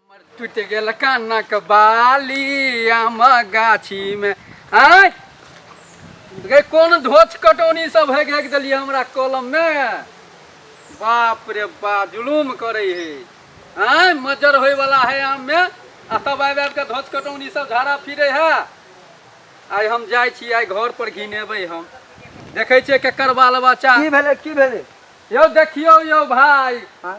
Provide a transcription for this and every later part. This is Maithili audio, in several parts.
हमर टूटि गेल कानक बाली आम गाछी में आय गे कोन धोच कटौनी सब हेक हेक देलिए हमरा कलम में बाप रे बा जुलूम करे हे आय मजर होय वाला है आम में आ तब आबि आबि के धोच कटौनी सब झाड़ा फिरे है आइ हम जाइ छी आइ घर पर घिनेबै हम देखै छियै केकर बाल बच्चा की भेलै की भेलै यौ देखियौ यौ भाय आँय?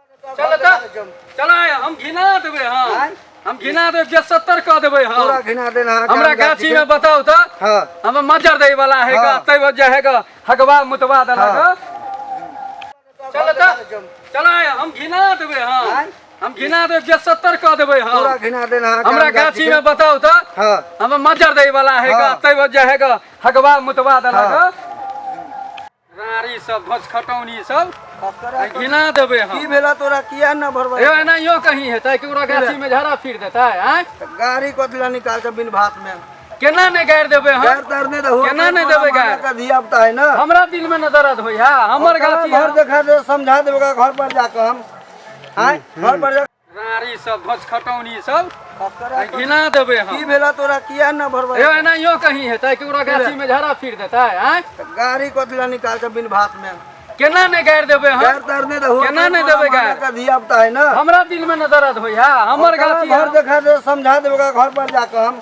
चल त चल आय हम घिना देबै हां आँय? हम घिना देबै जे 70 क देबै हां पूरा घिना देना है हमरा काम गाछी जाति में बताओ त के। हाँ हम मजर दै वाला है का हाँ। तै वजह है का हगवा मुतवा देला हाँ। का चल त चल आय हम घिना देबै हां आँय? हम घिना देबै जे 70 क देबै पूरा हां घिना देना है हमरा काम जाति गाछी के। में बताओ त हाँ हम मजर दै वाला है का हाँ। तै वजह है का हगवा मुतवा देला हाँ। का रारी सब धोच खटौनी सब आ घिना देबै हम की भेला तोरा किया न भरबै यो एनाहियो कहीं हेतै कि ओकरा गाछी में झड़ा फिर देतै आँय गाड़ी कथला निकाल के बिन भात में केना नहि गाड़ि देबै हम गाड़ तार नहि दहो केना नहि देबै गाड़? का धिया पुता है ना हमरा दिल में न दर्द होइया हमर गाछी घर है। देखा दे समझा देबे ओकरा घर पर जाके हम आय घर पर जा रारी सब ध्वज खटौनी सब आ घिना देबै हम की भेला तोरा किया न भरबै यो एनाहियो कहीं हेतै कि ओकरा गाछी में झड़ा फिर देतै आँय गाड़ी कथला निकाल के बिन भात में केना नहि गाड़ि देबै हम गाड़ तार नहि दहो केना नहि देबै गाड़? का धिया पुता है ना हमरा दिल में न दर्द होइया हमर गाछी घर देखा दे समझा देबे ओकरा घर पर जाके हम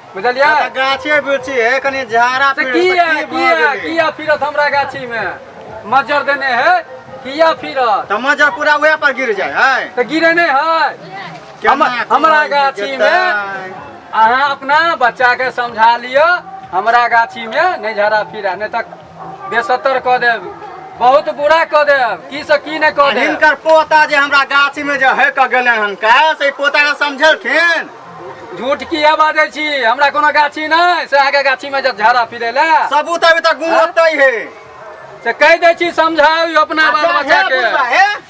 बुझलियै तऽ गाछे बिरछी हे कनि झाड़ा से पेड़ की से है की की भऽ है गेलै? किया फिरत हमरा गाछी में मज्जर देने है किया फिरत तऽ मजा पूरा उएह पर गिर जाय है तऽ गिरे नहि है केना हमर- हमरा कोन गाछी जेतै? में अहाँ अपना बच्चा के समझा लिअ हमरा गाछी में नहि झड़ा फिरा नहि तऽ बेसत्तर कऽ देब बहुत बुरा कऽ देब की से की नहि कऽ देब हिनकर पोता जे हमरा गाछी में जे है कऽ गेलै हन का से पोता के समझलखिन झूठ किया बाजै छी हमरा कोनो गाछी नहि से अहाँके गाछी में जब झाड़ा फिरे ले सबूत अभी तक गुम होतै है से कहि दै छी समझाउ अपना बाल बच्चा के